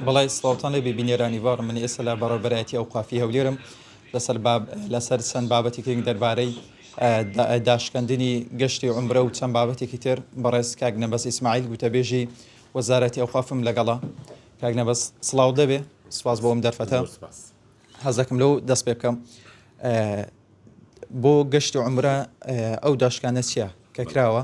بەڵێ سڵاوتان لێبێ بینێرانی باڕ من ئێستا لە بەڕێبەرایەتی ئەو قافی هەولێرم لەسەر باب لەسەر چەند بابەتی کرنگ دەربارەی داشکەندنی گەشتی عمرە و چەند بابەتێکی تر بەڕێز کاک نەبەس ئیسماعیل گوتەبێژی وەزارەتی ئەوقافم لەگەڵا کاک نەبەس سڵاو دەبێ سپاس بۆم دەرفەتە حەزەکەم لەو دەست پێ بکەم بۆ گەشتی عمرە ئەو داشکانە چییە کە کراوە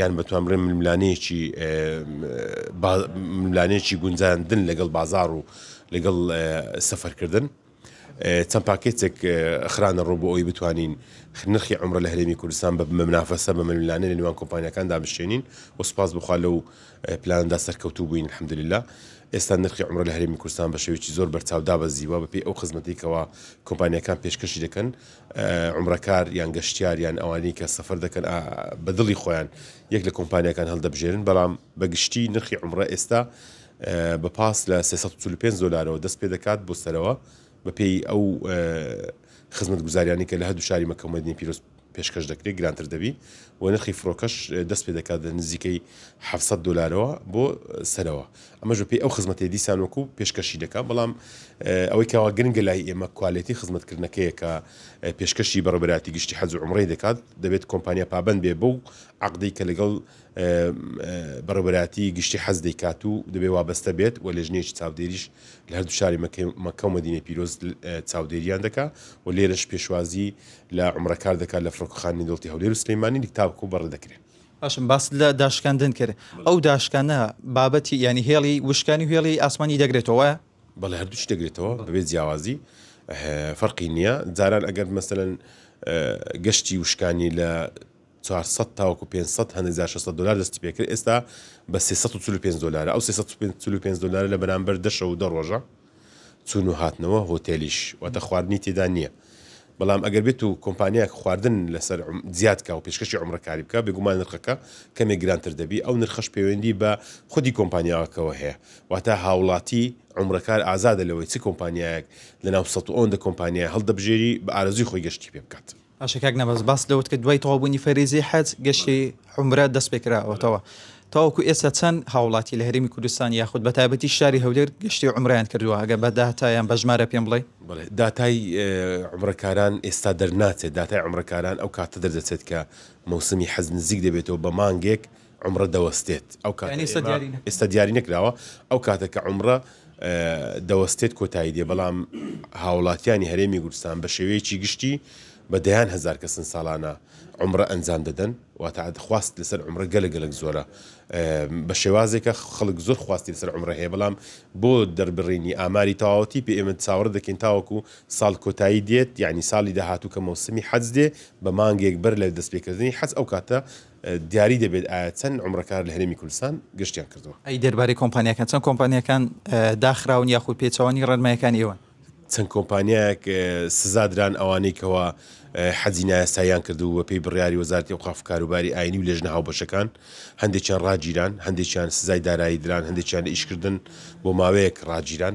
یان بەتوانبڕی ململانێیەکی با ململانێیەکی گونجاندن لەگەڵ بازاڕ و لەگەڵ سەفەرکردن چەند پاکێتێک خرانە ڕۆ بۆ ئەوی بتوانین نرخی عمرە لە هەرێمی کوردستان بە منافەسە بە ململانێ لە نێوان کۆمپانیەکان دابشێنین و سپاس بخوا لەو پلاندا سەرکەوتوو بووین الحمدلله ئێستا نرخی عمرە لە هەرێمی کوردستان بە شێوەیەکی زۆر بەرچاو دابەزیوە بەپێی ئەو خزمەتێکەوە کۆمپانیەکان پێشکەشی دەکەن عومرەکار یان گەشتیار یان ئەوانەی کە سەفەر دەکەن بە دڵی خۆیان یەک لە کۆمپانیاکان هەڵدەبژێرن، بەڵام بە گشتی نرخی عومرە ئێستا بە پاس لە سێ سەد و چل و پێنج دۆلارەوە دەست پێ دەکات بۆ سەرەوە، بەپێی ئەو خزمەتگوزاریانەی کە لە هەردوو شاری مەککە و مەدینەی پیرۆز پێشکەش دەکرێت گرانتر دەبی و نرخی فڕۆکەش دەست پێ دەکات لە نزیکەی حەفت سەد دۆلارەوە بۆ سەرەوە، ئەمەش بە پێی ئەو خزمەتەی دیسان وەکو پێشکەشی دەکات، بەڵام ئەوەی کەوا گرنگە لای ئێمە کوالێتی خزمەتکردنەکەیە کە پێشکەشی بەڕێوەبەرایەتی گشتی حەج و عومڕەی دەکات، دەبێت کۆمپانیا پابەند بێت بەو عەقدەی کە لەگەڵ بەڕێوەبەرایەتی گشتی حەج دەیکات و دەبێت وابەستە بێت و لێژنەیەکی چاودێریش لە هەردوو شاری مەککە و مەدینەی پیرۆز چاودێرییان دەکات و لێرەش پێشوازی لە عومڕەکار دەکات لە فڕۆکەخانەی دەوڵەتی هەولێر و سلێمانی تاوەکو بەڕێدەکرێن. باشم باست لە داشکاندن کرد ئەو داشکانە بابەتی ینی هێڵی وشکانی و هێڵی ئاسمانی دەگرێتەوە بەڵێ هەردووش دەگرێتەوە بەبێت جیاوازی فەرقی نییە جاران ئەگەر مەسەن گەشتی وشکانی لە 400 تاوەکو 500 هەندێک جار 600 دلار دەستی پێکرد ئێستا بە 345 دلار ئەو 345 دلار لە بەرامبەر دەشە و دەڕۆژە چوون و هاتنەوە هۆتێلیش واتە خواردنی تێدا نییە بەڵام ئەگەر بێت و کۆمپانیاک خواردن لەسەر زیاد کا و پێشکەشی عومرەکاری بکە بێگومان نرخەکە کەمێک گرانتر دەبی ئەو نرخەش پەیوەندی بە خودی کۆمپانیاکەوە هەیە واتە هاوڵاتی عومرەکار ئازادە لەوەی چ کۆمپانیایەک لەناو سەد و ئەوەندە کۆمپانیای هەڵدەبژێری بە ئارەزووی خۆی گەشتی پێ بکات. باشە کاک نەبەز باست لەوەت کرد دوای تەواوبوونی فەریزەی حەج گەشتی عومرە دەست پێ کراوەتەوە تاوەکو ئێستا چەند هاوڵاتی لە هەرێمی کوردستان یاخود بە تایبەتی شاری هەولێر گەشتی عومرەیان کردووە ئەگەر بە داتا یان بە ژمارە پێم بڵێی؟ بەڵێ داتای عومرەکاران ئێستا دەرناچێت داتای عومرەکاران ئەو کاتە دەردەچێت کە مەوسمی حەج نزیک دەبێتەوە بە مانگێک عەمرە دەوەستێت ئەو کاتە ئێمە ئێستا دیاری نەکراوە ئەو کاتە کە عەمرە دەوەستێت کۆتایی دێ بەڵام هاوڵاتیانی هەرێمی گورستان بە شێوەیەکی گشتی بە دەیان هزار کەسن ساڵانە عمرە ئەنجام دەدەن واتە خواست لەسەر عمرە گەلە گەلک زۆرە بە شێوازێکە خەڵک زۆر خواستی لەسەر عمرە هەیە بەڵام بۆ دەربڕینی ئاماری تەواوەتی پێ ئێمە چاوەڕ دەکەین تاوەکو ساڵ کۆتایی دێت یعنی ساڵی داهاتوو کە مەوسمی حەج دێ بە مانگێک بەر لە دەستپێکردنی حەج ئەو کاتە دیاری دەبێت ئایا چەند عومرەکار لە هەرێمی کوردستان گەشتیان کردووە؟ ئەی دەربارەی کۆمپانیاکان چەند کۆمپانیاکان داخراون یاخود پێچەوانەی ڕێنماییەکانی ئێوەن؟ چەند کۆمپانیایەک سزا دران ئەوانەی کەوا حەجی نایاساییان کرد و بەپێی بڕیاری وەزارەتی ئەوقاف و کاروباری ئاینی و لێژنە هاوبەشەکان هەندێکیان ڕاگیران هەندێکیان سزای دارایی دران هەندێکیان لە ئیشکردن بۆ ماوەیەک ڕاگیران.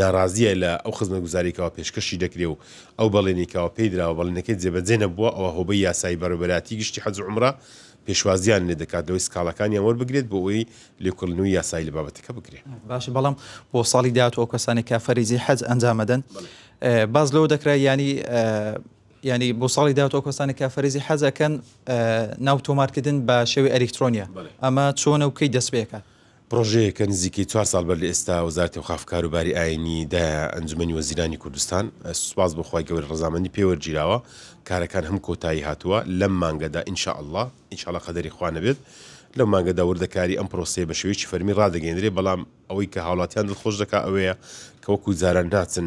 ناڕازییە لە ئەو خزمەتگوزارییەی کەوا پێشکەشی دەکرێ و ئەو بەڵێنی کەوا پێی دراوە بەڵێنەکەی جێبەجێ نەبووە ئەوا هۆبەی یاسایی بەڕێوەبەرایەتی گشتی حەج و عومڕە پێشوازییان لێ دەکات لەوەی سکاڵاکانیان وەربگرێت بۆ ئەوەی لێکۆڵینەوەی یاسایی لە بابەتەکە بکرێ. باشە بەڵام بۆ ساڵی داهاتوو ئەو کەسانەی کە فەریزەی حەج ئەنجام ئەدەن باس لەوە دەکرا یانی یانی بۆ ساڵی داهاتوو ئەو کەسانەی کە فەریزەی حەج ئەکەن ناو تۆمارکردن بە شێوەی ئەلیکترۆنیە ئەمە چۆنە و کەی دەست پێ ئەکات؟ پڕۆژەیەکە نزیکەی چوار ساڵ بەر لە ئێستا وەزارەتی ئەوقاف و کاروباری ئایینی دایە ئەنجومەنی وەزیرانی کوردستان، سوپاس بۆ خوای گەورە ڕەزامەندی پێ وەرگیراوە، کارەکان هەموو کۆتایی هاتووە، لەم مانگەدا ان شاء اللە، ان شاء اللە قەدەری خوا نەبێت، لەو مانگەدا وردەکاری ئەم پرۆسەیە بە شێوەیەکی فەرمی ڕادەگەیەندرێت، بەڵام ئەوەی کە هاوڵاتیان دڵخۆش دەکات ئەوەیە کە وەکو جاران ناچن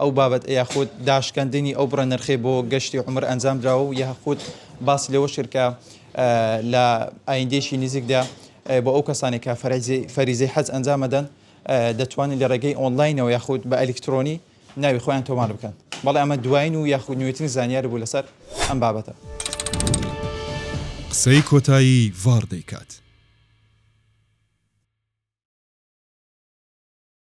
ئەو بابەت یاخود داشکاندنی ئەو بڕە نرخەی بۆ گەشتی عومر ئەنجام درا و یاخود باس لەوەش کرد کە لە ئایندێکی نزیکدا بۆ ئەو کەسانی کە فەریزەی حەج ئەنجام ئەدەن دەتوانن لە ڕێگەی ئۆنلاینەوە یاخود بە ئەلیکترۆنی ناوی خۆیان تۆمار بکەن بەڵێ ئەمە دوایین و یاخود نوێترین زانیاری بوو لەسەر ئەم بابەتە. قسەی کۆتایی ڤاڕ دەیکات.